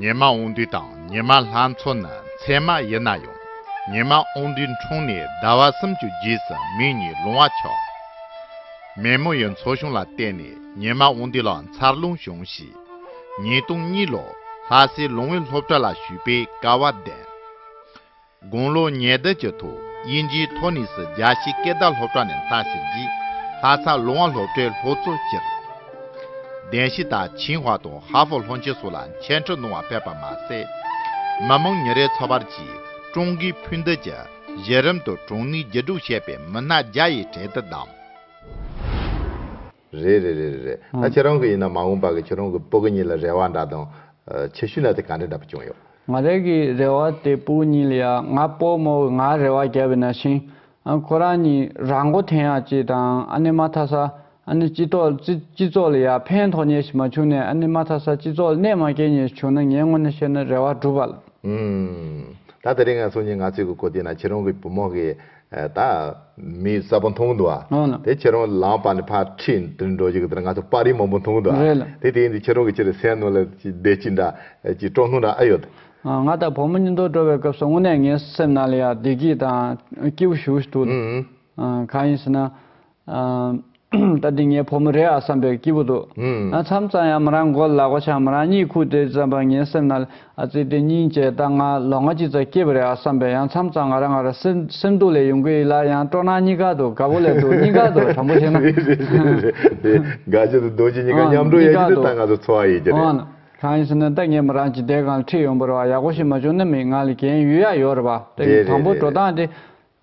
ཉི་མ་འོང་དུས་དང་ཉི་མ་ལྷ་མཚོ་ནི་མཚན་མ་ཡིན་ན་ཡང་ཉི་མ་འོང་དུས་འཁྲུངས་ནས་ཟླ་བ་སུམ་ཅུ་རྗེས་སུ་མིག་གཉིས་ལོང་བ་ཆགས། མེ་མོ་ཡི་མཚོ་གཞུང་ལ་བལྟས་ནས་ཉི་མ་འོང་དུས་ལ་མཚར་རླུང་བྱུང་ཞེས་ཉིས་སྟོང་གཉིས་ལོར་ལྷ་སའི་ལུང་བའི་སློབ་གྲྭ་ལ་ཞུས་པའི་སྐལ་བ་ལྡན། དགུང་ལོ་ཉེར་བདུན་གྱི་ཐོག་དབྱིན་ཇིའི་ཐོ་ནིས་རྒྱ་ཆེའི་སྐད་བརྡ་སློབ་གྲྭ་ནས་མཐར་ཕྱིན་རྗེས་ལྷ་ས་ལུང་བ་སློབ་གྲྭའི་ལྷོ་གཙོ་སྤྱིར་བདེན་ཞི་དང་ཆིང་ཧྭ་དང་ཧྭ་ཧྥོ་ལྷོ་ཆེན་སོགས་ལ་མཆན་འཕྲིན་གནང་བ་ཕེབས་པ་མ་ཟད། མི་མང་ཉིན་རེའི་འཚོ་བར་གྱིས་ཀྲུང་གོའི་ཕུ་འདེད་ཀྱི་གཞི་རིམ་དུ་གྲོང་མིའི་རྒྱུ་དྲུག་ཞེས་པའི་མི་སྣ་བརྒྱ་ཡི་གྲལ་དུ་བདམས། རེད་རེད་རེད་རེད་རེད་ད་ཁྱེད་རང་གི་ཡིན་ན་མ་འོངས་པ་གི་ཁྱེད་རང་གི་སྤུ་གི་གཉིས་ལ་རེ་བ་འདྲ་དང། ཆེ་ཤོས་ན་དེ་ག་འདྲ་འདྲ་པོ་བྱུང་ཡོད། ང་རང་གི་རེ་བ་དེ་སྤུ་གཉིས་ལ་ཡ་ང་སྤོ་མོ་གི་ང་རེ་བ་བརྒྱབ་ཡོད་ན་ཤིང། ཁོ་རང་གཉིས་རང་མགོ་འཐེན་ཡག་ཅིག་དང་ཨ་ནི་མ་ཐ་ས་ཨ་ནི་སྤྱི་ཏོག་སྤྱི་སྤྱི་ཚོགས་ལ་ཡ་ཕན་ཐོག་ཉེ་ཞིག་མ་བྱུང་ནས་ཨ་ནི་མ་ཐ་ས་སྤྱི་ཚོགས་ལ་གནད་མ་སྐྱེལ་ཉེ་ཞིག་བྱུང་ན་ངའི་ངོ་ནས་བཤད་ན་རེ་བ་འགྲུབ་བ་ལ། ཨུམ། ད་དེ་རིང་ང་སུ་གཉིས་ང་ཚོས་གི་གོ་དེ་ན་ཁྱེད་རང་གི་བུ་མོ་གི་ད་མི་གསར་པ་མཐོང་འདུག་ཨ། དེ་ཁྱེད་རང་ལངས་པ་ནས་ཕར་ཁྲིད་འདིར་འགྲོ་རྒྱུ་གདའ་ང་ཚོ་དཔའ་རིས་མང་པོ་མཐོང་འདུག་ཨ། དེ་དེ་ཡིན་དུས་ཁྱེད་རང་གི་ཕྱིར་སེམས་ནང་ལ་བདེ་སྐྱིད་འདྲ་ཅིག་སྤྲོ་སྣང་འདྲ་ཨ་ཡོད། ང་དང་བུ་མོ་གཉིས་མདོར་འགྲོ་བའི་སྐབས་སུ་དངོས་གནས་ངའི་སེམས་ནང་ལ་ཡང་བདེ་སྐྱིད་དང་སྐྱིད་པོ་ཞུ་འདུག་གང་ཡིན་ཟེར་ན། ད་དེ་ངའི་བུ་མོ་རེད་ཨ་བསམ་པའི་སྐྱིད་པོ་འདུག་ཨ་མཚམས་གཙང་ཡང་མོ་རང་མགོ་ལག་པ་ཆག་མོ་རང་གཉིད་ཁུག་དེ་བརྩམས་པ་ངའི་སེམས་ན་ཨ་ཙི་དེ་སྙིང་རྗེ་ད་ང་ལོ་ང་གཅིག་ཙམ་སྐྱེས་པ་རེད་ཨ་བསམ་པས་ཡང་མཚམས་གཙང་ང་རང་ང་རང་སེམས་སྡུག་ལས་ཡོང་གི་ཡིན་ལ་ཡང་སྤྲོ་སྣང་གཉིས་ཀ་འདུག་དགའ་བོ་ལས་སྡུག་གཉིས་ཀ་འདུག་དྲང་པོ་བཤད་ན། རེད་རེད་རེད་རེད་དེ་དགའ་སྐྱིད་དང་སྡུག་སྐྱིད་གཉིས་ཀ་མཉམ་འགྲོ་ཡག་གི་འདུག་ད་ང་ཚོ་འཚོ་བ་ཡིན་གྱི་རེད། གང་ཡིན་ཟེར་ན་ད་ངས་མོ་རང་ཇི་ལྟའི་སྒང་ལ་ཁྲིད་ཡོང་བར་བ་ཡག་པོ་ཞིག་མ་བྱུང་ན་མི་ང་ལ་གྱེན་ཡུད་ཡག་ཡོད་རེད་པ་ད་ངས་དྲང་པོ་འགྲོ་སྟངས་དེ་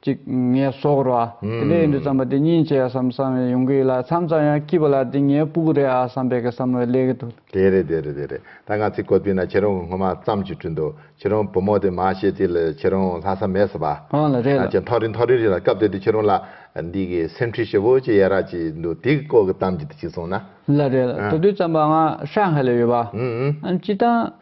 ཅིག་ངལ་གསོ་རོགས་ཨ། དེ་འདྲའི་ཡིན་དུས་བརྩམས་པ་དེ་གཉིས་བྱས་སམ་བསམ་ཡང་ཡོང་གི་ཡོད་ལ་མཚམས་མཚམས་ཡང་སྐྱིད་པ་ལ་དེ་ངའི་སྤུག་རེད་ཨ་བསམ་པའི་གི་བསམ་བློའི་ལས་ཀྱི་དུ། དེ་རེད་དེ་རེད་དེ་རེད་ད་ང་ཚིག་གོ་དུས་ན་ཁྱེད་རོང་གི་སྔོན་མ་བརྩམས་ཅིག་བྲིས་འདུག་ཁྱེད་རོང་བུ་མོ་དེ་མ་ཤེས་ཚིག་ལ་ཁྱེད་རོང་ལྷག་བསམ་མེད་ཟེར་བ། ཨང་ལ་རེད་ལ། ཅེས་འཐོར་རི་འཐོར་རི་རེད་ལ་སྐབས་དེ་དུས་ཁྱེད་རོང་ལ་འདི་གི་སེམས་འཁྲུལ་ཞེ་བོ་ཅི་ཡས་རག་ཅིག་འདུག་དེ་གི་སྐོར་གི་གཏམ་གྱི་དུ་ཅིག་གསུངས་ན། ལ་རེད་ལ་དེ་དུས་བརྩམས་པ་ང་ཧྲན་ཧའེ་ལ་ཡོད་པ། ཨང་ཅི་དང།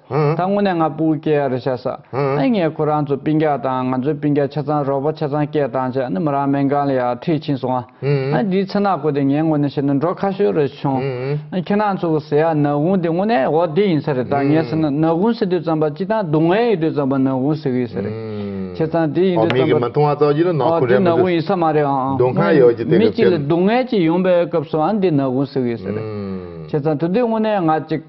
ད་དངོས་གནས་ང་པུའུ་སྐྱེས་ཡག་རེད་ཤ་ས་ཨེ་ངས་ཁོ་རང་ཚོ་པིན་རྒྱག་དང་ང་ཚོའི་པིན་རྒྱག་ཆ་ཚང་རོགས་པ་ཆ་ཚང་སྐྱེས་དང་བྱས་ནི་མི་རང་མེན་གང་ལ་ཡག་འཁྲིད་ཕྱིན་སོང་ཨ་འདིའི་ཚེ་ནག་པོ་དེ་ངའི་ངོ་ནས་བཤད་ན་འགྲོ་ཁ་ཤོས་རེད་བྱུང་ཨ་ཁྱེད་རང་ཚོ་གི་ཟེ་ཡག་ནག་དགུང་དེ་དངོས་གནས་འོ་དེ་ཡིན་ས་རེད་ད་ངས་ཟེར་ན་ནག་དགུང་ཟེར་དུས་ཙམ་པ་སྤྱི་སྟངས་སྡུག་བསྔལ་ཡིན་དུས་ཙམ་པ་ནག་དགུང་ཟེར་གི་ཡིན་ས་རེད་ཁྱེད་ཚང་དེ་ཡིན་དུས་ཙམ་པ་འོ་དེ་ནག་དགུང་ཡིན་ས་མ་རེད་ཨང་མི་གཅིག་ལ་སྡུག་བསྔལ་གཅིག་ཡོང་པའི་སྐབས་སུ་ཨ་འདི་ནག་དགུང་ཟེར་གི་ཡིན་ས་རེད་ཁྱེད་ཚང་དུ་དེ་དངོས་གནས་ང་གཅིག་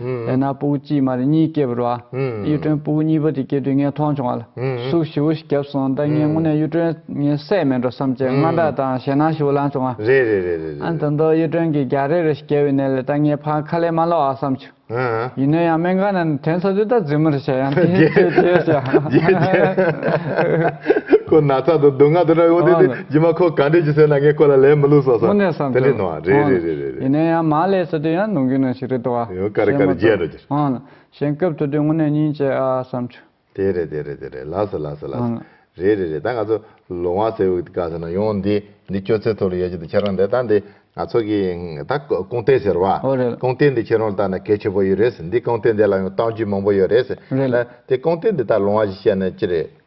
ལས་སྣ་སྤུ་གུ་གཅིག་མ་རེ་གཉིས་སྐྱེས་པར་བ། གཡུ་སྒྲོན་སྤུ་གུ་གཉིས་པ་དེ་སྐྱེས་དུས་ངས་མཐོང་བྱུང་བ་ལ། ཟུག་བཞི་བོ་ཞིག་བརྒྱབ་སོང་ད་ངས་དངོས་གནས་གཡུ་སྒྲོན་ངའི་སྲས་མིན་འགྲོ་བསམ་བྱས་སྔ་དྲགས་དང་ཞེད་སྣང་བཞི་བོ་ལངས་བྱུང་བ། རེད་རེད་རེད་རེད་རེད་རེད། ད་དུང་གཡུ་སྒྲོན་གྱིས་རྒྱགས་རེ་རེ་ཞིག་བརྒྱབ་པའི་གནས་ལས་ད་ངས་ཕར་ཁ་ལས་མ་ལོག་ཨ་བསམ་བྱུང། ཡིན་ན་ཡང་སྨན་ཁང་ནས་དྲན་ས་དུས་ད་རྫུན་མ་རེ་བཤད་ཡང་དེ་ཚོས་རྗེས་བཤད། རྗེས་བཤད། ཁོ་ན་ཚ་དང་སྡུག་བསྔལ་དུ་ར་ཡོང་དུས་དེ། རྗེས་མ་ཁོ་ག་འདྲས་ཀྱིས་ཟེར་ན་ངས་ཁོ་ལ་ལན་མི་བསླུགས་སོང་ཟེར། དེ་འདྲས་གནང་བ་རེད་རེད་རེད་རེད་རེད། ཡིན་ན་ཡང་མ་ལས་ཟེར་དུས་ཡང་ནོངས་རྒྱུ་ནོངས་ཞིག་རེད་དོ། ཡང་དཀའ་རེ་དཀའ་རེ་རྒྱས་འགྲོ་རྒྱུ། གཞན་སྐབས་དུ་དུས་དངོས་གནས་སྙིང་རྗེ་ཨ་ཨ་བསམ་ཆུ། དེ་རེད་དེ་རེད་དེ་རེད་ལགས་སོ་ལགས་སོ་ལགས་སོ། རེད་རེད་རེད་ད་ང་ཚོ་ལོ་མང་སེར་བུ་ག་ཟེར་ན་ཡོང་འདི་འདི་ཁྱོད་ཚོའི་ཐོག་ལ་ཡོད་རྒྱུ་དེ་ཁྱེད་རང་འདས་ད་འདི་ང་ཚོ་གི་ད་ཀོང་རྟེ་ཟེར་བ། ཀོང་རྟེ་འདི་ཁྱེད་རང་ལ་ལྟ་ན་གལ་ཆེ་པོ་ཡོད་རེད། འདི་ཀོང་རྟེ་འདི་ལ་ཡང་གཏམ་རྒྱུད་མང་པོ་ཡོད་རེད། ད་དེ་ཀོང་རྟེ་འདི་ད་ལོང་བ་ཞིག་བཤད་ན་ཅི་རེད།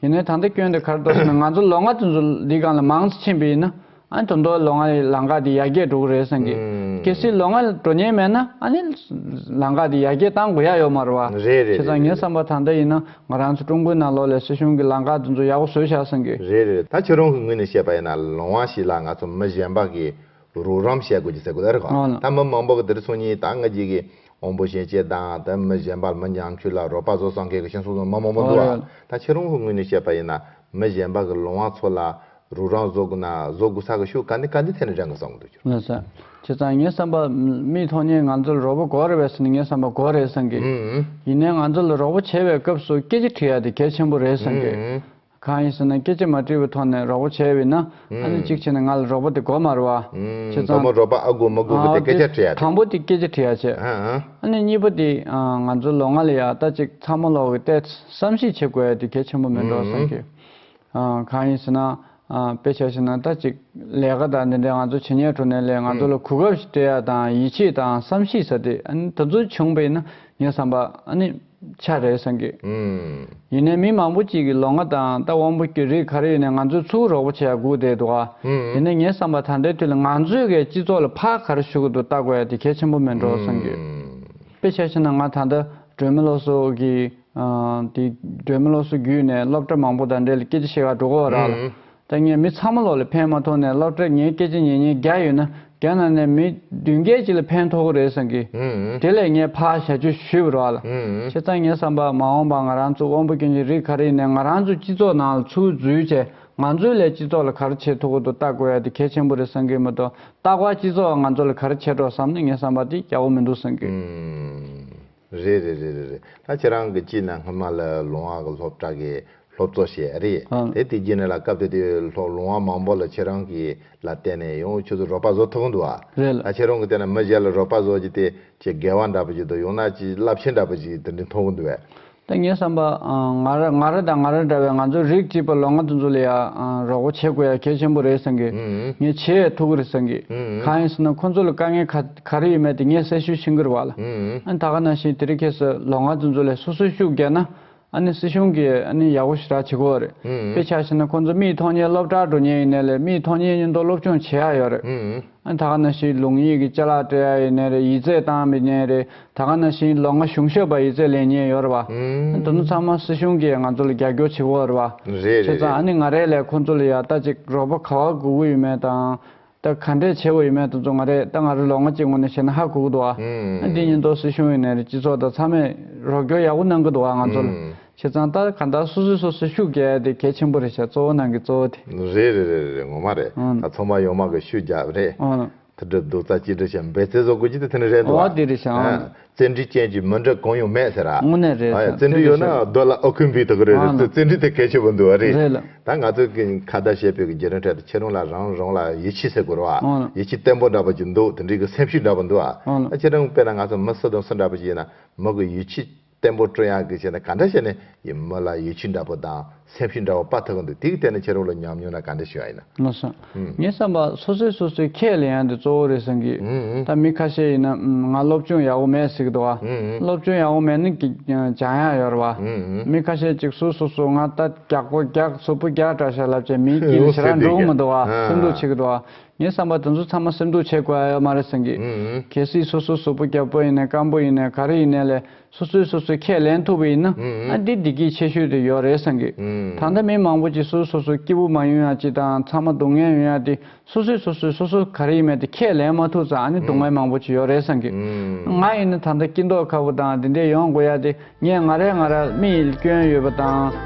ཡིན་ནའི་ད་ལྟ་སྐྱོན་དེ་གར་དོར་ནས་ང་ཚོ་ལོ་ལྔ་ཚུན་ཚོ་འདི་གང་ལ་མང་ཙི་ཕྱིན་པའི་ཡིན་ན་ཨ་ནི་དོ་མདོ་ལོ་ང་ཡི་ལང་ཀ་དེ་ཡར་རྒྱས་འགྲོ་གི་རེད་བསམ་གི། གལ་སྲིད་ལོ་ང་འགྲོ་ཉེན་མེད་ན་ཨ་ནི་ལང་ཀ་དེ་ཡར་རྒྱས་བཏང་དགོས་ཡ་ཡོད་མ་རེད་བ། རེད་རེད་རེད་རེད་རེད། ཁྱེད་ཚང་ངའི་བསམ་པ་ད་ལྟ་ཡིན་ན་ང་རང་ཚོ་ཀྲུང་གོའི་ནང་ལོག་ལས་སྲིད་གཞུང་གི་ལང་ཀ་དེ་ཚོ་ཡག་པོ་བཟོས་བཞག་བསམ་གི། རེད་རེད་རེད་ད་ཁྱེད་རང་གི་ངོས་ནས་བཤད་པ་ཡིན་ན་ལོང་བ་ཞིག་ལ་ང་ཚོ་མི་གཞན་པ་གིས་རོགས་རམ་བྱེད་དགོས་ཀྱི་ཟེར་དགོས་ལ་རེད་གོ། ད་མི་མང་པོ་གི་དེར་སོང་ཉིན་ད་ང་གཅིག་གི་འོང་པོ་ཞེན་ཆེད་དང་ད་མི་གཞན་པ་མི་འགྱངས་ཁྱུད་ལ་རོགས་པ་བཟོ་སང་གེ་གི་ཤེན་སོང་སོང་མི་མང་པོ་འདུག་ཨ་ད་ཁྱེད་རང་ཧུ་ངོས་ནས་བཤད་པ་ཡིན་ན་མི་གཞན་པ་གི་ལོང་བ་ཚོ་ལ་རོགས་རམ་བཟོ་དགོས་ན་བཟོ་དགོས་ས་གི་ཤུ་ག་འདི་ག་འདི་ཐད་ནས་དྲན་གི་སང་གི་འདུག་ཁྱེད་རང། ཁྱེད་ཚང་ངའི་བསམ་པ་མིའི་ཐོག་ནས་ང་ཚོ་ལ་རོགས་པོ་གོ་རེ་བས་སུ་ནི་ངའི་བསམ་པ་གོ་རེད་སང་གི། ཡིན་ནའི་ང་ཚོ་ལ་རོགས་པོ་བྱེད་པའི་སྐབས་སུ་སྐད་ཅིག་དྲི་ཡ་དེ་གལ་ཆེན་པོ་རེད་སང་གི། གང་ཡིན་ཟེར་ན་སྐད་ཅིག་མ་དྲིལ་བུའི་ཐོག་ནས་རོགས་པོ་བྱེད་འོས་ན་ཨ་ནི་གཅིག་བྱས་ནས་ང་ལ་རོགས་པོ་དེ་མགོ་མར་བ། ཁྱེད་ཚང། མགོ་མར་རོགས་པ་ཨ་དགོས་མ་དགོས་གི་དེ་སྐད་ཆ་དྲི་ཡ་དེ། དང་པོ་དེ་སྐད་ཆ་དྲི་ཡ་བྱས། ཨ་ནི་གཉིས་པ་དེ་ང་ཚོ་ལོ་ལྔ་ལ་ཡག་ལྟ་ཅིག་ཚང་མ་ལོག་གི་ལྟས་བསམ་གཞིག་བྱེད་དགོས་དེ་གལ་ཆེན་པོ་མིན་འགྲོ་བསམ་གི། གང་ཡིན་ཟེར་ན་དཔེ་ཆ་ཞིག་ན་ལྟ་ཅིག་ལས་ཀ་དང་འདི་འདྲའི་ང་ཚོ་བྱེད་ཉེར་འགྲོ་ནས་ལས་ང་ཚོ་ལ་གོ་སྐབས་ཤིག་སྤྲད་ཡ་དང་ཡིད་ཆེས་དང་བསམ་གཞིག་ཟེར་དེ་ཨ་ནི་ད་གཟོད་བྱུང་བས་ན་ངས་བསམ་པ་ཨ་ནི། ཆ་རེད་གསུངས་གི། ཡིན་ནའི་མི་མང་པོ་གཅིག་གིས་ལོ་ང་དང་རྟ་དབང་པོ་གྱོད་རིགས་ག་རེ་ཡིན་ནའི་ང་ཚོས་ཚུར་རོགས་པོ་བྱས་ཡ་སྒུག་བསྡད་འདུག་ཨ། དེ་ནས་ངས་བསམ་པ་ད་ལྟའི་དུས་ལ་ང་ཚོས་གའི་སྤྱི་ཚོགས་ལ་ཕར་ག་རེ་ཞུ་གི་འདུག་བལྟ་དགོས་ཡ་དེ་གལ་ཆེན་པོ་མིན་འགྲོ་གསུངས་གི། དཔེ་ཆ་ཤེས་ན་ང་ད་ལྟ་སྒྲོལ་མ་ལོ་སོ་གིས་དེ་སྒྲོལ་མ་ལོ་སོ་བརྒྱུད་ནས་སློབ་གྲྭ་མང་པོ་དང་འབྲེལ་སྐད་ཆ་བཤད་ག་འགྲོ་གོ་ར་ལ། ད་ངས་མི་ཚང་མ་ལོག་ལས་ཕན་མ་ཐོག་ནས་སློབ་གྲྭར་ངའི་སྐད་ཆ་ཉན་ཉན་རྒྱག་ཡོད་ན་རྒྱ་ནག་ནས་མི་བདུན་བརྒྱད་ཅིག་ལ་ཕན་ཐོག་གི་རེད་བསམ་གི། དེ་ལས་ངས་ཕ་ཞལ་བཅོས་ཞུས་པར་བ་ལ། ཁྱེད་ཚང་ངས་བསམ་པ་མ་འོངས་པ་ང་རང་ཚོ་དབང་པོ་སྐྱོན་ཅན་རིགས་ག་རེ་ནས་ང་རང་ཚོའི་སྤྱི་ཚོགས་ནང་ལ་ཚུར་འཛུལ་བྱས་ང་ཚོའི་ལས་སྤྱི་ཚོགས་ལ་ག་རེ་བྱེད་ཐུབ་གོ་ཏོ་བལྟ་དགོས་ཡ་དེ་གལ་ཆེན་པོ་རེད་བསམ་གི་མ་གཏོགས་རྟག་པར་སྤྱི་ཚོགས་ང་ཚོ་ལ་ག་རེ་བྱེད་རོགས་བསམ་ན་ངས་བསམ་པ་དེ་རྒྱག་གོ་མི་འདུག་བསམ་གི། རེད་རེད་རེད་རེད་རེད་ད་ཁྱེད་རང་གི་སྤྱི་ན་སྔོན་མ་ལ་ལུང་བ་གི་སློབ་གྲགས་ཀྱི་སློབ་གཙོ་ཞེས་ཨ་རེད་ཨང། དེ་དེ་རྗེས་ནས་ལ་སྐབས་དེ་དུས་སློབ་ལུང་བ་མང་པོ་ལ་ཁྱེད་རང་གི་ལ་བལྟས་ནས་ཡང་ཁྱོད་ཚོ་རོགས་པ་བཟོ་ཐུབ་གི་འདུག་ཨ། རེད་ལ། ད་ཁྱེད་རང་གི་བལྟས་ན་མི་གཞན་ལ་རོགས་པ་བཟོ་རྒྱུ་དེ་ཆེས་དགེ་བ་འདྲ་པོ་ཞིག་འདུག་ཡང་ན་ཆེས་རླབས་ཆེན་འདྲ་པོ་ཞིག་དེ་འདྲའི་མཐོང་གི་འདུག་བས། ད་ངས་བསམ་པ་ང་ར་ང་ར་དང་ང་ར་འདྲ་བའི་ང་ཚོ་རིགས་གཅིག་པ་ལོ་ང་དུ་འཛུགས་ལ་ཡ་རོགས་པ་བྱེད་དགོས་ཡ་གལ་ཆེན་པོ་རེད་བསམ་གི། ངས་ཆེས་ཐུགས་ཁུར་བསམ་གི། གང་ཡིན་ཟེར་ན་ཁོ་ཚོ་ལ་དཀའ་ངལ་ཁ། ག་རེ་ཡོད་མེད་དེ་ངས་གསལ་ཤོས་ཤི་འགུར་བ་ལ་ཨ་ད་ག་ན་བཞིན་དེ་རིགས་ཁྱེད་སུ་ལོག་ང་ཚོ་ཚོ་ལས་སོ་སོས་ཤུགས་རྒྱག་ན་ཨ་ནི་སྲིད་གཞུང་གིས་ཨ་ནི་ཡག་པོ་ཞིག་རག་བྱེད་གོ་རེད་དཔེ་ཆ་ཤི་ན་ཁོང་ཚོ་མིའི་ཐོག་ཉེས་སློབ་གྲགས་འགྲོ་ཉེན་ཡོད་ནའི་ལས་མིའི་ཐོག་ཉེས་ཉེན་རྡོ་སློབ་སྐྱོང་བྱེད་ཡག་ཡོད་རེད་ཨ་ད་ག་ན་བཞིན་ལུང་ཡིག་གི་ཅལ་ལག་སྤྲད་ཡག་ཡོད་ནའི་རེད་ཡིད་རྩེ་བཏང་མི་ཉེན་རེད་ད་ག་ན་བཞིན་ལོག་ང་གཞུང་ཞབས་པ་ཡིད་རྩེ་ལེན་ཉེན་ཡོད་རེད་བ་ཨ་དོ་ནུ་ཚང་མ་སྲིད་གཞུང་གིས་ང་ཚོ་ལ་རྒྱག་རྒྱོག་བྱེད་གོ་རེད་བ་ཁྱེད་ཚང་ཨ་ནི་ང་རེད་ལས་ཁོང་ཚོ་ལ་ཡར་ལྟ་ཅིག་རོགས་པ་ག་བ་དགོས་གི་ཡོད་མེད་དང་ད་ག་འདྲའི་ཆེ་བོ་ཡིན་མེད་དུ་བཙོང་བ་རེད་ད་ང་རི་ལོ་ལྔ་གཅིག་སྔོན་ནས་བཤད་ན་ཧ་གོ་གི་འདུག་ཨ་འདི་ཉིན་ཏོག་སྲིད་གཞུང་ཡིན་ནས་རེད་སྤྱི་ཚོགས་དང་ཚང་མས་རོགས་སྐྱོར་ཡག་པོ་གནང་གི་འདུག་ང་ཚོ་ལ་བྱས་ཙང་ད་ག་འདྲ་སོ་སོས་སོ་སོའི་ཤུགས་རྒྱག་ཡ་དེ་གལ་ཆེན་པོ་རེད་བྱས་གཙོ་བོ་ནང་གི་གཙོ་བོ་དེ། རེད་རེད་རེད་རེད་ངོ་མ་རེད་ད་ཚོང་པ་ཡོང་མ་གི་ཤུགས་རྒྱག་རེད་ད་གྲུབ་འདུག་རྩ་གཅིག་སྒྲིལ་བྱས་འབད་བརྩེ་བཟོ་དགོས་རྒྱུ་དེ་དེ་ནི་རེད་འདུག་ཨ་འདི་རེད་བྱས་ཨ་བཙན་གྲི་ཅན་གྱི་མི་འདྲ་གང་ཡང་མེད་ཟེར། དངོས་གནས་རེད་བཙན་གྲི་ཡོད་ན་རྡོ་ལ་ཨོ་ཁུན་བུད་དགོས་རེད་རེད་བཙན་གྲི་དེ་གལ་ཆེ་པོ་འདུག་རེད། ད་ང་ཚོས་ཁ་བརྡ་བྱེད་པའི་རྒྱལ་ནང་ཁྲོད་དུ་ཁྱེད་རང་ལ་རང་རང་ལ་ཡིད་ཆེས་ཟེར་དགོས་རོགས། ཡིད་ཆེས་བརྟན་པོ་འདྲ་པོ་ཅིག་འདུག་དེ་འདྲའི་གི་སེམས་ཤུགས་འདྲ་པོ་འདུག་ཨ། ཁྱེད་རང་དཔེར་ན་ང་ཚོ་མི་སུ་དང་སུ་འདྲ་པོ་ཞིག་ཡིན་ན་མི་གི་ཡིད་ཆེས་བརྟན་པོ་སྤྲོད་ཡག་གི་བྱས་ན་ག་འདྲ་བྱས་ནས་ཡིན་མི་ལ་ཡིད་ཆེས་འདྲ་པོ་དང། སེམས་ཤིང་འདྲ་བ་དཔའ་ཐུག་གི་འདུག་དེའི་གཏེར་ནས་ཁྱེར་རོགས་ལ་ཉམས་མྱོང་ན་ག་འདྲ་ཞུ་ཨ་ཡིན་ན། ལོ་སང། ངའི་བསམ་པ་སོ་སོས་སོ་སོའི་ཁྱད་ལས་ཡང་དེ་གཙོ་བོ་རེད་བསམ་གི་ཡོད། ད་མི་ཁ་ཤས་ཡིན་ན། ང་སློབ་སྦྱོང་ཡག་པོ་མེད་ཟེར་གི་འདུག་ཨ། སློབ་སྦྱོང་ཡག་པོ་མེད་ན་གི་ཇང་ཡང་ཡོད་རེད་བ། མི་ཁ་ཤས་ཅིག་སུ་སོ་སོ་ང་ལྟ་རྒྱག་པོ་རྒྱག་ཚོ་པོ་རྒྱག་དྲ་ཤ་ལབ་ཅེས་མིའི་དཀྱིལ་ནས་ཞེ་དྲག་འགྲོ་གི་མི་འདུག་ཨ་སེམས་སྡུག་བྱེད་གི་འདུག་ཨ། ངའི་བསམ་པ་དེ་ཚོ་ཚང་མ་སེམས་སྡུག་བྱེད་དགོས་ཨ་ཡོད་མ་རེད་བསམ་གི་ཡོད། གལ་སྲིད་སོ་སོ་སོ་པོ་རྒྱབ་པོ་ཡིན་ནས་སྐམ་པོ་ཡིན་ནས་ག་རེ་ཡིན་ནས་ལས་སོ་སོས་སོ་སོའི་ཁས་ལེན་ཐུབ་པ་ཡིན་ན་ཨ་འདི་བདེ་སྐྱིད་ཆེ་ཤོས་དེ་ཡོད་རེད་བསམ་གི། ད་ལྟ་མི་མང་པོ་ཅིག་སོ་སོ་སོ་སྐྱིད་པོ་མ་ཡོང་ཡང་ཅི་དང་ཚང་མ་སྡུག་བསྔལ་ཡོང་ཡ་དེ་སོ་སོས་སོ་སོས་སོ་སོ་ག་རེ་ཡིན་མེད་དེ་ཁས་ལེན་མ་ཐུབ་ཙང་ཨ་ནི་སྡུག་བསྔལ་མང་པོ་ཅིག་ཡོད་རེད་བསམ་གི། ང་ཡིན་ན་ད་ལྟ་སྐྱིད་མདོག་ཁ་པོ་དང་དེ་འདྲས་ཡོང་དགོས་ཡ་དེ་ངས་ང་རེ་ང་རལ་མི་ཡིལ་སྐྱོན་ཡོད་པ་དང།